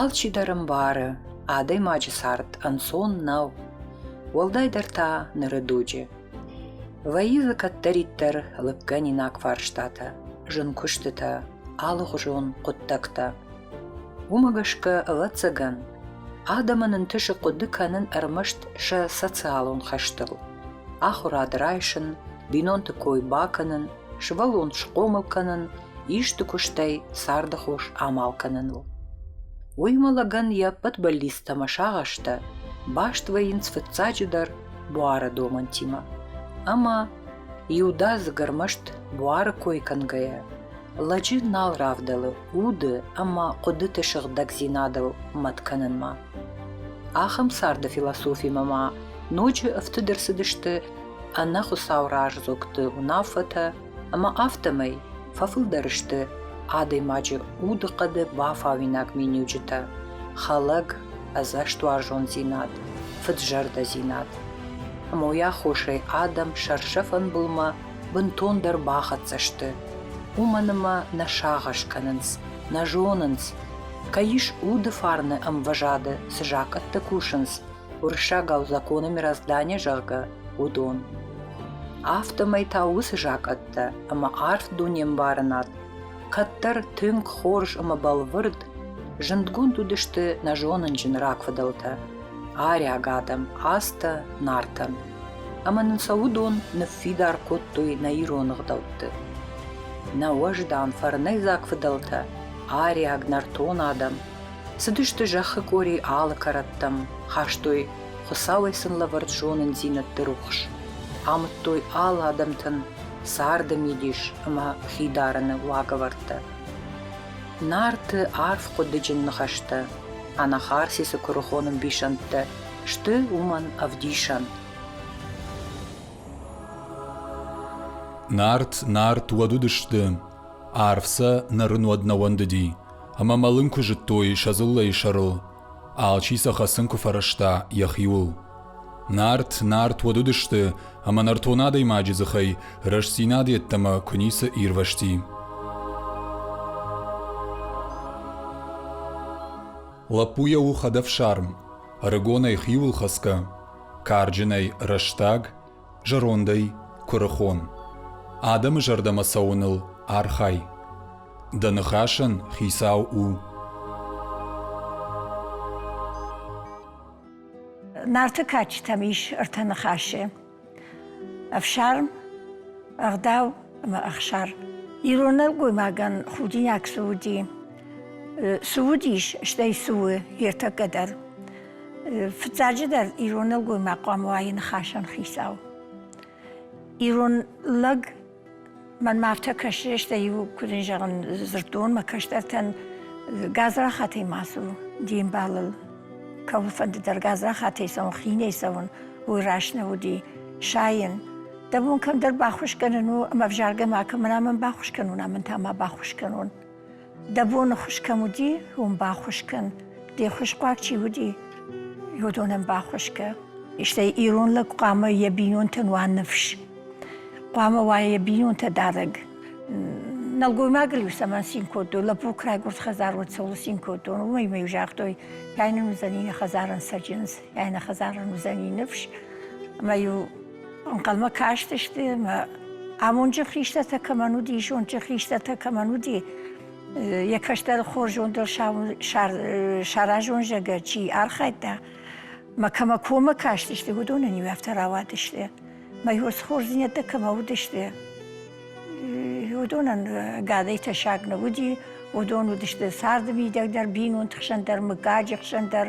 Алчидӕр ӕмбары, адӕймаджы цард ӕнцон нӕу, уӕлдайдӕр та ныры дуджы. Вӕййы дзы кӕддӕриддӕр лыггӕнинаг фарстатӕ, зын куыстытӕ, алыгъуызон хъуыддӕгтӕ. Уымӕ гӕсгӕ, ӕвӕццӕгӕн, адӕмӕн ӕнтысы хъуыды кӕнын ӕрмӕст сӕ социалон хӕстыл, ахуырад райсын, бинонты кой бакӕнын, сывӕллон схъомыл кӕнын – исты куыстӕй царды хос амал кӕныныл. Уыимӕ лӕгӕн йӕ ӕппӕт бӕллицтӕ ӕмӕ сагъӕстӕ баст вӕййынц фыццаджыдӕр буары домӕнтимӕ. Ӕмӕ иудадзыг ӕрмӕст буары кой кӕнгӕйӕ, лӕджы нал равдӕлы уды ӕмӕ хъуыдыты сыгъдӕгдзинадыл мӕт кӕнынмӕ. Ахӕм царды философимӕ ма ноджы ӕфтыд ӕрцыдысты ӕнӕ Хуыцау раздзогты уынаффӕтӕ Ӕмӕ афтӕмӕй фӕфылдӕр сты адӕймаджы удыхъӕды бафауинаг миниуджытӕ: хӕлӕг, ӕдзӕстуарзондзинад, фыд-зӕрдӕдзинад. Ӕмӕ уый аххосӕй адӕм сӕрсӕфӕн былмӕ бынтондӕр бахӕццӕ сты. Уымӕн ӕмӕ нӕ сагъӕс кӕнынц, нӕ зонынц, кӕй ис уды фарны ӕмвӕзады, цы закъӕттӕ кусынц, уырыссагау законы мироздание, зӕгъгӕ, уыдон. Афтӕмӕй та уыцы закъӕттӕ ӕмӕ арф дунембарынад, кӕддӕр тынг хорз ӕмӕ бӕлвырд, зындгонд уыдысты нӕ зонынджын рагфыдӕлтӕ – ариаг адӕм, азтӕ, нартӕн. Ӕмӕ нын сӕ уыдон ныффидар кодтой нӕ ирон ӕгъдӕутты. Нӕ уӕздан фӕрнӕйдзаг фыдӕлтӕ, ариаг нӕртон адӕм – Цыдысты зӕххы къори алы кӕрӕттӕм, хастой Хуыцауӕй сын лӕвӕрд зонындзинӕдты рухс, амыдтой алы адӕмтӕн царды мидис ӕмӕ хидарыны уагӕвӕрдтӕ. Нарты арф хъуыдыджын ныхӕстӕ, Анахарсисы куырыхон ӕмбисӕндтӕ сты уымӕн ӕвдисӕн. Нарт, нарт уӕд уыдысты, арв сӕ нӕ рын уӕд нӕ уӕндыди. ӕмӕ мӕлын куы зыдтой сӕ дзыллӕйы сӕрыл, алчи сӕ хӕцын куы фӕрӕзта йӕхиуыл. Нарт, нарт уӕд уыдысты, ӕмӕ нӕртон адӕймаджы дзыхӕй рӕстдзинад йеддӕмӕ куы ницы ирвӕзти. Лӕппуйӕ у хӕдӕфсарм, ӕрыгонӕй хиуыл хӕцгӕ, карджынӕй рӕстаг, Зӕрондӕй куырыхон. Адӕмы зӕрдӕмӕ цӕуыныл архай. Дӕ ныхасӕн хицау у. Нарты кадджытӕм ис ӕртӕ ныхасы: ӕфсарм, ӕгъдау ӕмӕ ӕхсар. Ирон нӕлгоймагӕн худинаг цы уыди, цы уыдис, стӕй цы у ертӕккӕ дӕр. Фыццаджыдӕр, ирон нӕлгоймаг хъуамӕ уайы ныхасӕн хицау. Ирон лӕг мӕнмӕ афтӕ кӕсы, стӕй иу куыд ын зӕгъын дзырдонмӕ кӕстӕртӕн гадзрахатӕй ма цу де мбалыл. Кӕуылфӕнды дӕр гадзрахатӕй цӕуын, хинӕй цӕуын, уый раст нӕ уыди. Сайын. Дӕ бон кӕмдӕр баххуыс кӕнын у, ӕмӕ ӕвзаргӕ макӕмӕн амӕн баххуыс кӕнон, амӕн та ма баххуыс кӕнон. дӕ боны хуыз кӕм уыди, уым баххуыс кӕн, де хуызхъуаг чи уыди, уыдонӕн баххуыс кӕ. Стӕй ирон лӕг хъуамӕ йӕ бинонтӕн уа ныфс, хъуамӕ уа йӕ бинонтӕ дарӕг. Нӕлгоймагыл-иу цӕмӕн цин кодтой, лӕппук райгуырд хӕдзарод цӕуыл цин кодтон, уымӕй-иу загътой, кӕй нын уыдзӕни нӕ хӕдзарӕн цӕджындз, кӕй нӕ хӕдзарӕн уыдзӕни ныфс. Ӕмӕ-иу Ӕнхъӕлмӕ кастысты мӕ амонджын хистӕртӕ кӕмӕн уыди, зондджын хистӕртӕ кӕмӕн уыди, йӕ кӕстӕр хорзондӕр саразон зӕгӕт чи архайдта, мӕ кӕмӕ коммӕ кастысты, уыдонӕн иу афтӕ рауадысты. Мӕ хорздзинӕдтӕ кӕмӕ уыдысты, уыдонӕн гадӕй тӕссаг нӕ уыди, уыдон уыдысты царды мидӕг дӕр, бинонты хсӕн дӕр, мыггаджы хсӕн дӕр,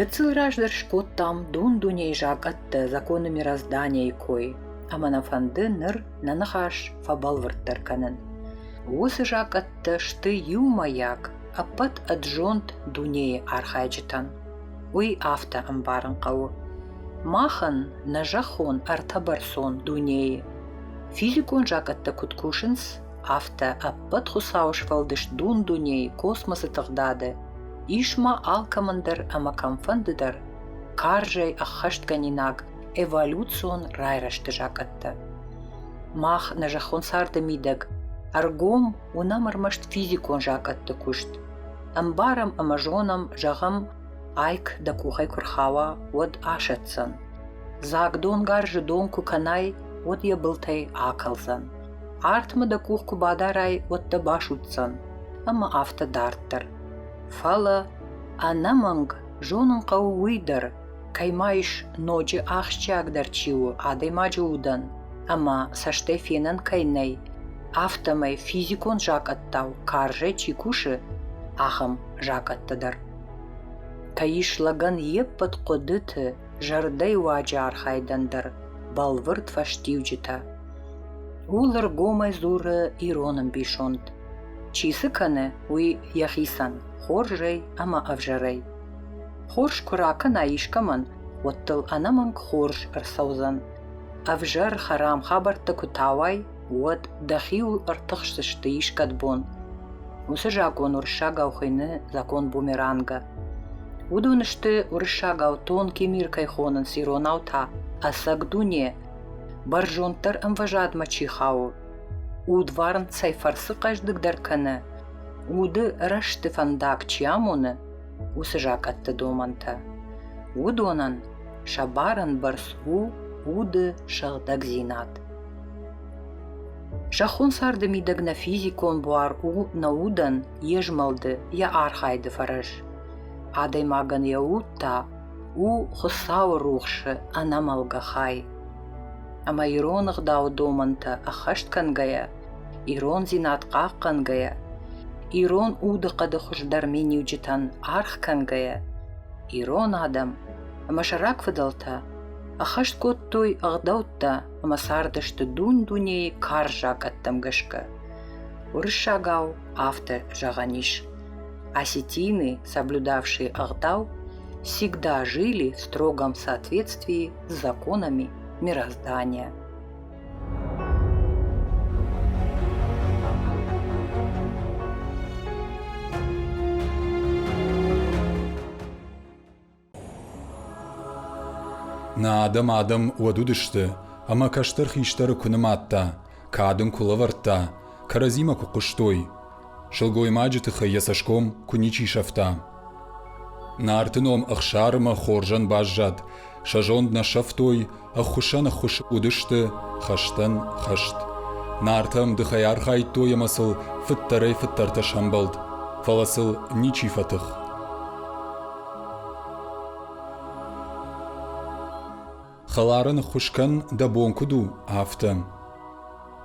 Гыццыл раздӕр скодтам дун-дунейы закъӕттӕ законы мироздания кой, ӕмӕ нӕ фӕнды ныр нӕ ныхас фӕбӕлвырддӕр кӕнын. Уыцы закъӕттӕ сты иумӕйаг ӕппӕт ӕд зонд дунейы архайджытӕн. Уый афтӕ ӕмбарын хъӕуы: махӕн, нӕ зӕххон ӕртӕбӕрцон дунейы, физикон закъӕттӕ куыд кусынц, афтӕ ӕппӕт Хуыцауы сфӕлдыст дун-дунейы космосы тыгъдады ис ма алкӕмӕн дӕр ӕмӕ кӕмфӕнды дӕр карзӕй ӕххӕстгӕнинаг эволюцион райрӕзты закъӕттӕ. Мах, нӕ зӕххон царды мидӕг, ӕргом уынӕм ӕрмӕст физикон закъӕтты куыст. Ӕмбарӕм ӕмӕ зонӕм, зӕгъӕм, айк дӕ къухӕй куы рхауа, уӕд асӕтдзӕн. Дзаг донгарзы дон куы кӕнай, уӕд йӕ былтӕй акӕлдзӕн. Артмӕ дӕ къух куы бадарай, уӕд дӕ басудздзӕн. Ӕмӕ афтӕ дарддӕр. Фӕлӕ ӕнӕмӕнг зонын хъӕуы уый дӕр, Кӕй ма ис ноджы ахсджиагдӕр чи у адӕймаджы удӕн ӕмӕ цӕстӕй фенӕн кӕй нӕй, афтӕмӕй физикон закъӕттау карзӕй чи кусы, ахӕм закъӕттӕ дӕр. Кӕй ис лӕгӕн йе ппӕт хъуыдыты зӕрдӕйы уаджы архайдӕн дӕр бӕлвырд фӕстиуджытӕ. Ууыл ӕргомӕй дзуры ирон ӕмбисонд. Чи цы кӕны, уый йӕхицӕн хорзӕй ӕмӕ ӕвзӕрӕй Хорз куы ракӕна искӕмӕн, уӕд дыл ӕнӕмӕнг хорз ӕрцӕудзӕн. Ӕвзӕр хӕрам хабӕрттӕ куы тауай, уӕд дӕхиуыл ӕртыхсдзысты искӕд бон. Уыцы закъон уырыссагау хуыйны закон бумеранга. Уыдон сты уырыссагау тонкий мир кӕй хонынц иронау та ӕцӕг дуне, бӕрзонддӕр ӕмвӕзадмӕ чи хауы. Удварн цӕй фӕрцы хъӕздыгдӕр кӕны, уды рӕзты фӕндаг чи амоны, уыцы закъӕтты домӕнтӕ. Уыдонӕн сӕ барын бӕрц у уды сыгъдӕгдзинад. Зӕххон царды мидӕг нӕ физикон буар у нӕ удӕн йе змӕлды, йӕ архайды фӕрӕз. Адӕймагӕн йӕ уд та у Хуыцауы рухсы ӕнӕмӕлгӕ хай. Ӕмӕ ирон ӕгъдауы домӕнтӕ ӕххӕст кӕнгӕйӕ Ирондзинад хъахъхъӕнгӕйӕ, ирон удыхъӕды хуыздӕр миниуджытӕн аргъ кӕнгӕйӕ, ирон адӕм ӕмӕ сӕ рагфыдӕлтӕ ӕххӕст кодтой ӕгъдӕуттӕ ӕмӕ цардысты дун-дунейы карз закъӕттӕм гӕсгӕ. Уырыссагау автор зӕгъӕн ис: осетины, соблюдавшие ӕгъдау, всегда жили в строгом соответствии с законами мироздания. Нӕ адӕм адӕм уӕд уыдысты, ӕмӕ кӕстӕр хистӕры куы нымадта, кад ын куы лӕвӕрдта, кӕрӕдзимӕ куы хъуыстой, Сылгоймаджы тыххӕй йӕ цӕсгом куы ничи сӕфта. Нарты ном Ӕхсармӕ хорзӕн баззад, сӕ зонд нӕ сӕфтой, ӕххуысӕн ӕххуыс уыдысты, хӕстӕн хӕст. Нартӕм дыхӕй архайдтой ӕмӕ сыл фыддӕрӕй-фыддӕртӕ сӕмбӕлд, фӕлӕ сыл ничи фӕтых. Хӕлары ныххуыс кӕн, дӕ бон куыд у, афтӕ.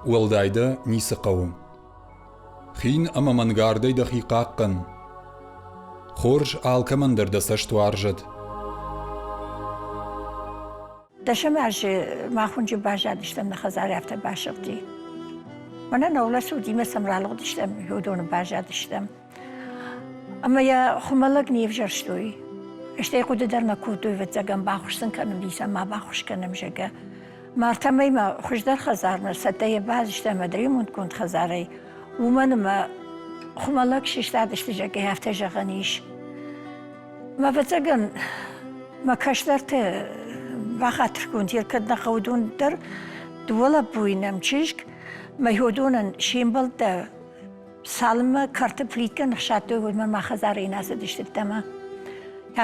Уӕлдай дӕ ницы хъӕуы. Хин ӕмӕ мӕнгардӕй дӕхи хъахъхъӕн. Хорз алкӕмӕн дӕр дӕ цӕст уарзӕд. Дӕсӕм азы мах уынджы баззадыстӕм, нӕ хӕдзар афтӕ басыгъди. Мӕнӕ нӕ улӕфт уыд, имӕ сӕм ралыгъдыстӕм, уыдоны баззадыстӕм. Ӕмӕ йӕ хуымӕллӕг не взӕрстой. Стӕй хъуыды дӕр нӕ кодтой, ӕвӕццӕгӕн бахуыс сын кӕнын исӕм, ма бахуыс кӕнӕм, зӕгъгӕ. Мартӕмӕй ма хуыздӕр хӕдзармӕ цӕттӕ йӕ базыста ӕмӕ ремонтгонд хӕдзарӕй. Уымӕн ӕмӕ хуымӕллӕг сыстадысты, зӕгъгӕ, афтӕ зӕгъӕн ис. Ма ӕвӕццӕгӕн мӕ кӕстӕрты бахатыргонд йӕ кӕд нӕ хъӕуы дон дӕр, дыууӕ лӕппуйы нӕм чызг, мӕ хьодонӕн се мбӕлттӕ Цалынмӕ кӕрты плиткӕ ныхсадтой, уӕдмӕ мӕ хӕдзарӕй нӕ цыдыстут ӕмӕ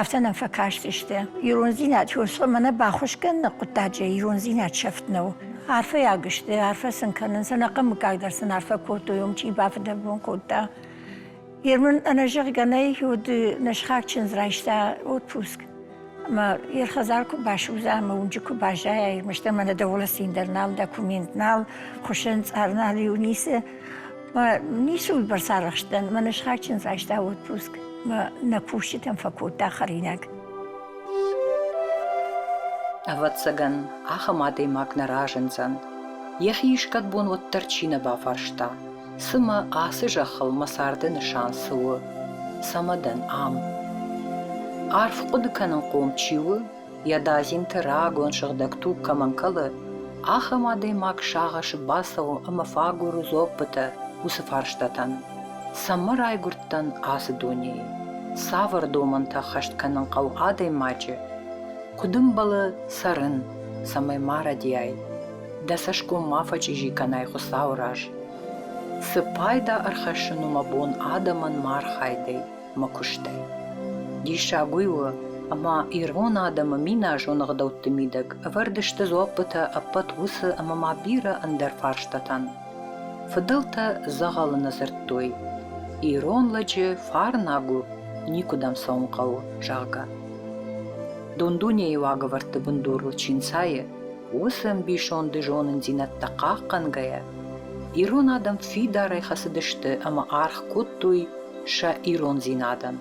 афтӕ нӕм фӕкастысты. Ирондзинад фосхъомӕ нӕ баххуыс кӕныны хъуыддаджы ирондзинад сӕфт нӕу. Арфӕйаг сты, арфӕ сын кӕнын, сӕ нӕхъӕн мыггаг дӕр сын арфӕ кодтой, уым чи бафыдӕбон кодта. Ермын ӕнӕзӕгъгӕ нӕй, уыд нӕ сыхаг чындз райста отпуск. Ӕмӕ йӕ хӕдзар куы басудза ӕмӕ уынджы куы баззайа, ӕрмӕст ӕмӕ нӕ дӕлӕ цин дӕр нал, документ нал, хуыссӕн цъар нал-иу ницы. Мӕ ницы уыдбӕрц арӕхст дӕн, мӕ нысхатджын райста отпуск, мӕ нӕ кусджытӕм фӕкодта хӕринаг. Ӕвӕццӕгӕн, ахӕм адӕймаг нӕ разындзӕн. Йӕхи искӕд бон уӕддӕр чи нӕ бафарста, Цымӕ ацы зӕххыл мӕ царды нысан цы у, цӕмӕ дӕн ам? Арф хъуыды кӕнынхъом чи у, йӕ дадзинты рагон сыгъдӕг туг кӕмӕн кӕлы, ахӕм адӕймаг сагъӕсы бацӕуы ӕмӕ фӕагуры дзоппытӕ уыцы фарстатӕн: Цӕмӕ райгуырдтӕн ацы дунейы? Цавӕр домӕнтӕ ӕххӕст кӕнын хъӕуы адӕймаджы? Куыд ӕмбӕлы цӕрын, цӕмӕй ма рӕдийай? Дӕ цӕсгом ма фӕчъизи кӕнай Хуыцауы раз. Цы пайда ӕрхӕссын у мӕ бон адӕмӕн мӕ архайдӕй, мӕ куыстӕй? Диссаг уый у, ӕмӕ ирон адӕмы миназон ӕгъдӕутты мидӕг ӕвӕрд сты дзуаппытӕ ӕппӕт уыцы ӕмӕ ма бирӕ ӕндӕр фарстатӕн. Фыдӕлтӕ дзӕгъӕлы нӕ дзырдтой, ирон лӕджы Фарнӕг у, никуыдӕм цӕуын хъӕуы, зӕгъгӕ. Дон-дунейы уагӕвӕрдты бындурыл чи нцайы, Уыцы ӕмбисонды зонындзинӕдтӕ хъахъхъӕнгӕйӕ, ирон адӕм фидарӕй хӕцыдысты ӕмӕ аргъ кодтой сӕ ирондзинадӕн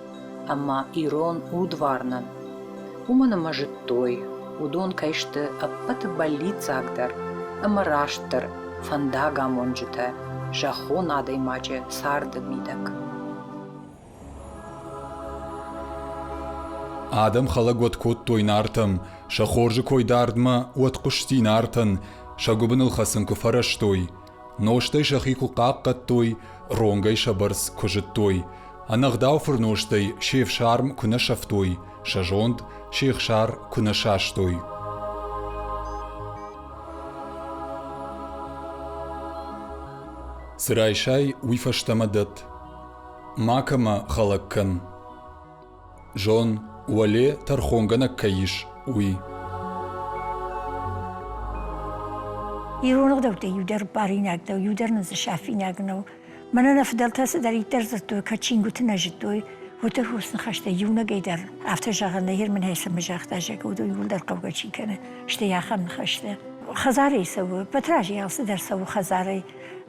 ӕмӕ ирон удварнӕн. Уымӕн ӕмӕ зыдтой, уыдон кӕй сты ӕппӕты бӕллиццагдӕр ӕмӕ растдӕр фӕндагамонджытӕ зӕххон адӕймаджы царды мидӕг. Адӕм хӕлӕг уӕд кодтой Нартӕм, сӕ хорзы кой дардмӕ уӕд хъуысти Нартӕн, сӕ гуыбыныл хӕцын куы фӕрӕзтой, нозтӕй сӕхи куы хъахъхъӕдтой, ронгӕй сӕ бӕрц куы зыдтой, ӕнӕгъдау фырнозтӕй се фсарм куы нӕ сӕфтой, сӕ зонд се хсар куы нӕ састой. Цы райсай, уый фӕстӕмӕ дӕтт. Макӕмӕ хӕлӕг кӕн. Зон, уӕле тӕрхонгӕнӕг кӕй ис, уый. Ирон ӕгъдӕуттӕй иудӕр баринаг нӕу, иудӕр нын дзы сафинаг нӕу. Мӕнӕ нӕ фыдӕлтӕ цыдӕриддӕр зыдтой, кӕд чингуыты нӕ зыдтой, уыдон хурс ныхӕстӕй иунӕгӕй дӕр афтӕ зӕгъы, нӕ Ермынӕй цӕмӕ загъта, зӕгъгӕ, уыдон иууылдӕр хъӕугӕ чи кӕны, стӕй ахӕм ныхӕстӕ. Хӕдзарӕй цӕуы, Патразӕй алцыдӕр цӕуы хӕдзарӕй.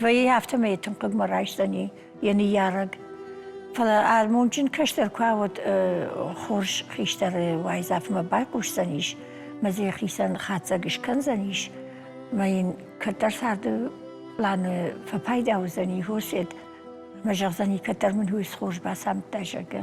Вӕййы афтӕ мӕ йӕ тынг хъыгмӕ райсдзӕни йӕ ныййарӕг. Фӕлӕ амондджын кӕстӕр куы ауӕд хорз хистӕры уайдзӕфмӕ байхъусдзӕнис, мӕ дзы йӕхицӕн хатдзӕг скӕндзӕнис, мӕ йын кӕддӕр царды планы фӕпайда уыдзӕни, Хосед, мӕ зӕгъдзӕни, кӕддӕр мын уый схорз бацамдта, зӕгъгӕ.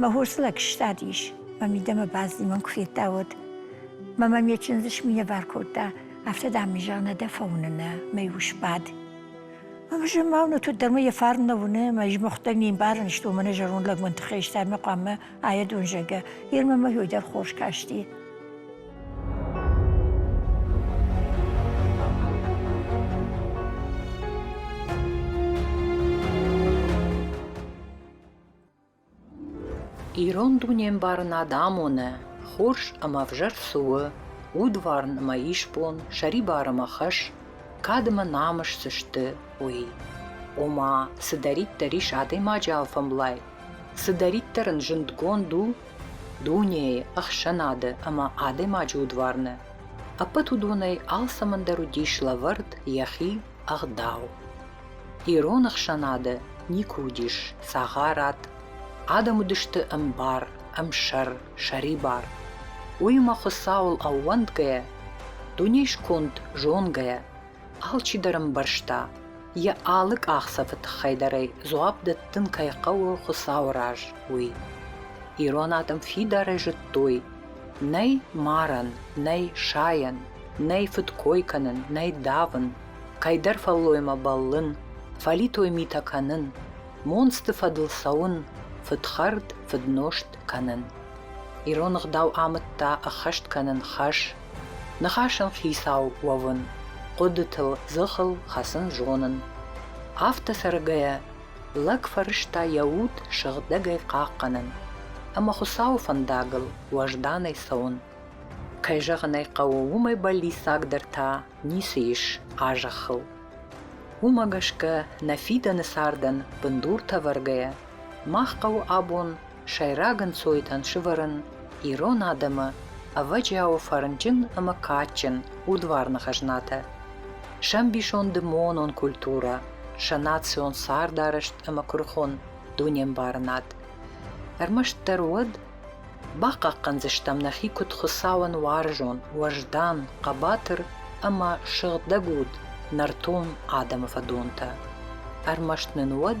Мӕ хосыл ӕгуыстад ис. Мӕ мидӕмӕ бадзимон куы федта, уӕд. Мӕ мӕм йӕ чындзы сминӕвар кодта, афтӕ, дам, мын зӕгъ, нӕ дӕ фӕуыныны, мӕй ус бад. Ӕмӕ зын-ма уыны, туддӕр мӕ йӕ фарн нӕ уыны, мӕ измыхъуыдтӕй ме мбарын, сты мӕнӕ зӕронд лӕгмӕн тыххӕй стӕмӕ хъуамӕ ая дон зӕггӕ. Йе рмӕ мӕ хьойдӕр хорз касти. Ирон дунембарын адӕмоны хорз ӕмӕ ӕвзӕр цы у, удварн ӕмӕ исбон, сӕрибар ӕмӕ хӕс, кадмӕ намыс цы сты, уый. Ома, цыдӕриддӕр ис адӕймаджы алфӕмблай, цыдӕриддӕр ын зындгонд у дунейы, ӕхсӕнады ӕмӕ адӕймаджы удварны, ӕппӕт уыдонӕй алцӕмӕн дӕр уыдис лӕвӕрд йӕхи ӕгъдау. Ирон ӕхсӕнады никуы уыдис цагъарад, адӕм уыдысты ӕмбар, ӕмсӕр, сӕрибар. Уыимӕ Хуыцауыл ӕууӕндгӕйӕ, дуне сконд зонгӕйӕ, алчидӕр ӕмбӕрста, йӕ алы къахдзӕфы тыххӕй дӕрӕй дзуапп дӕттын кӕй хъӕуы Хуыцауы раз, уый. Ирон адӕм фидарӕй зыдтой, Нӕй марӕн, нӕй сайӕн, нӕй фыдкой кӕнын, нӕй давын, кӕйдӕр фӕллоймӕ бӕллын, фӕлитой митӕ кӕнын, монцты фӕдыл цӕуын, фыдхӕрд, фыднозт кӕнын. Ирон ӕгъдау амыдта ӕххӕст кӕнын хӕс, ныхасӕн хицау уӕвын, хъуыдытыл, дзыхыл хӕцын зонын. Афтӕ цӕргӕйӕ Лӕг фӕрӕзта йӕ уд сыгъдӕгӕй хъахъхъӕнын ӕмӕ Хуыцауы фӕндагыл уӕзданӕй цӕуын. Кӕй зӕгъын ӕй хъӕуы, уымӕй бӕллиццагдӕр та ницы ис а зӕххыл. Уымӕ гӕсгӕ нӕ фидӕны цардӕн бындур тӕвӕргӕйӕ мах хъӕуы абон сӕйраг ӕнцойтӕн сывӕрын ирон адӕмы ӕвӕджиауы фӕрнджын ӕмӕ кадджын удварны хӕзнатӕ, сӕ ӕмбисонды монон культурӕ, сӕ национ цардарӕзт ӕмӕ куырыхон дунембарынад. Ӕрмӕстдӕр уӕд бахъахъхъӕндзыстӕм нӕхи куыд Хуыцауӕн уарзон, уӕздан, хъӕбатыр ӕмӕ сыгъдӕг уд нӕртон адӕмы фӕдонтӕ. Ӕрмӕст нын уӕд